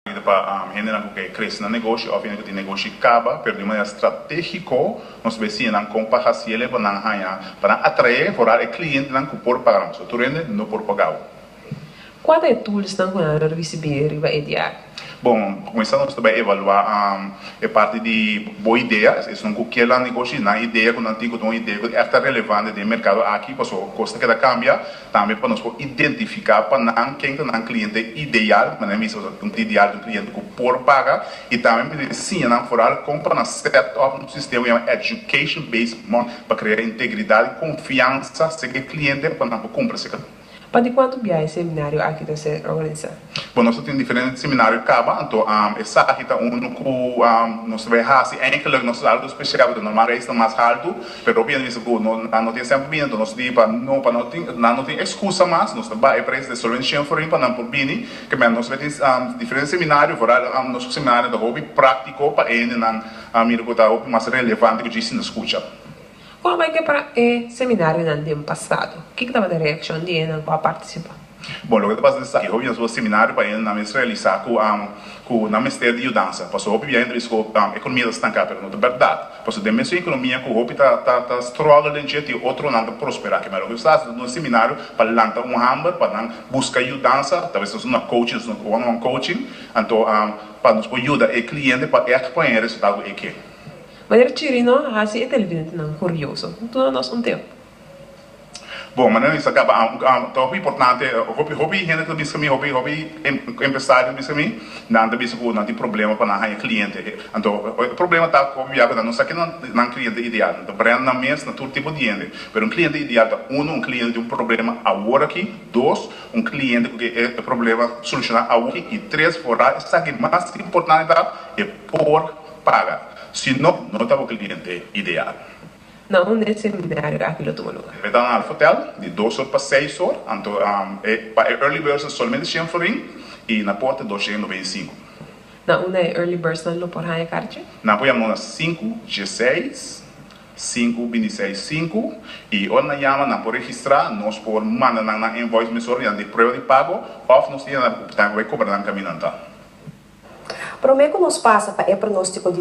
Ita pa hendenan ku ke kresi na negoshi òf hende ku tin negoshi kaba, pero di un manera stratégiko nos bai siñanan kon pa hasi el, pa nan haña, pa nan atraé foral e klientenan ku por paga nos. Tur hende no por paga bo. Kua ta e tulsnan ku nan lo risibí riba e diari? Bon, pa kuminsá nos ta bai evaluá e parti di bo idea. Esun ku kier lan negoshi, nan idea ku nan tin ku ta un idea ku esta relevante den e merkado aki, pasobra kos ta keda kambia. Tambe pa nos por identifica pa nan ken ta nan cliente ideal, manera mi bisa un ideal ta un cliente cu por paga, y tambe mi ta ensiña nan foral con pa nan set up un sistema cu yama education based money pa crea integridad y confiansa acerca e cliente pa nan por cumpra se caminda. Pa di cuantu biaha e seminario aki ta ser organiza? Bo nos ta tin diferente seminario caba anto esaki ta uno cu nos ta bay haci eigenlijk nos algo special porque normal reis ta mas halto pero hopi ena mester cu nan no tin semper bini anto nos di pa no pa nan no tin excusa mas nos ta bay e prijs de solo den shen forin pa nan por bini kemey nos bay tin diferente seminario vooral nos seminario ta hopi practico pa ene nan mira cu ta hopi mas relevante cu djis tin ta scucha. Kon a bai ke para e seminarionan den pasado? Kiko tabata e reakshon di ennan ku a partisipá? Bon, loke ta pasa desaki e hobennan su seminario pa ennan mes realisá ku ku nan mester di yudansa. Pasobra hopi biaha nan ta bisa ku ekonomia ta stanká, pero no ta bèrdat. Pasobra den mesun ekonomia ku hopi ta ta strògel den dje, tin otronan ta prosperá. Kimes loke Dios ta hasi, ta duna un seminario pa lanta un hamber pa nan buska yudansa, talves nos una kouching, nos one on one kouching, anto pa nos por yuda e kliente pa èk por hende resultá ku e ke. Manera Chirino a hasi e televidentenan kurioso? Duna nos un teo. Bon, manera mi sa kaba an, un an tòg importante, hopi hopi hende ta biska mi, hopi hopi empresario ta biska mi, nan ta bisa ku nan tin problema pa nan haña kliente. Anto e problema ta hopi bia ku nan no sa kinan nan kliente ideal. Nan ta brèn nan mes na tur tipo di hende, pero un kliente ideal ta uno, un kliente ku tin un problema awor aki, dos, un kliente ku ke e problema solushoná awor aki, i tres, forá esaki mas importante ta e por Paga, si no, no ta bo cliente ideal. Na un e seminario aki lo tuma lugar? E ta na Alfotel, di dos or pa seis or. Anto e pa e early birds ta solamente shen florin y na por ta dos shen nobenta y sinku. Na una e early birds nan lo por haya karchi? Nan por yama nos na sinku dieseis Sinku bini seis sinku, i ora nan yama nan por registrá, nos por manda nan nan invoice mesora di nan tin prueba di pago òf nos tin anaba ku nan por bai kobra nan kaminanta. Promé ku nos pasa pa e pronóstiko di.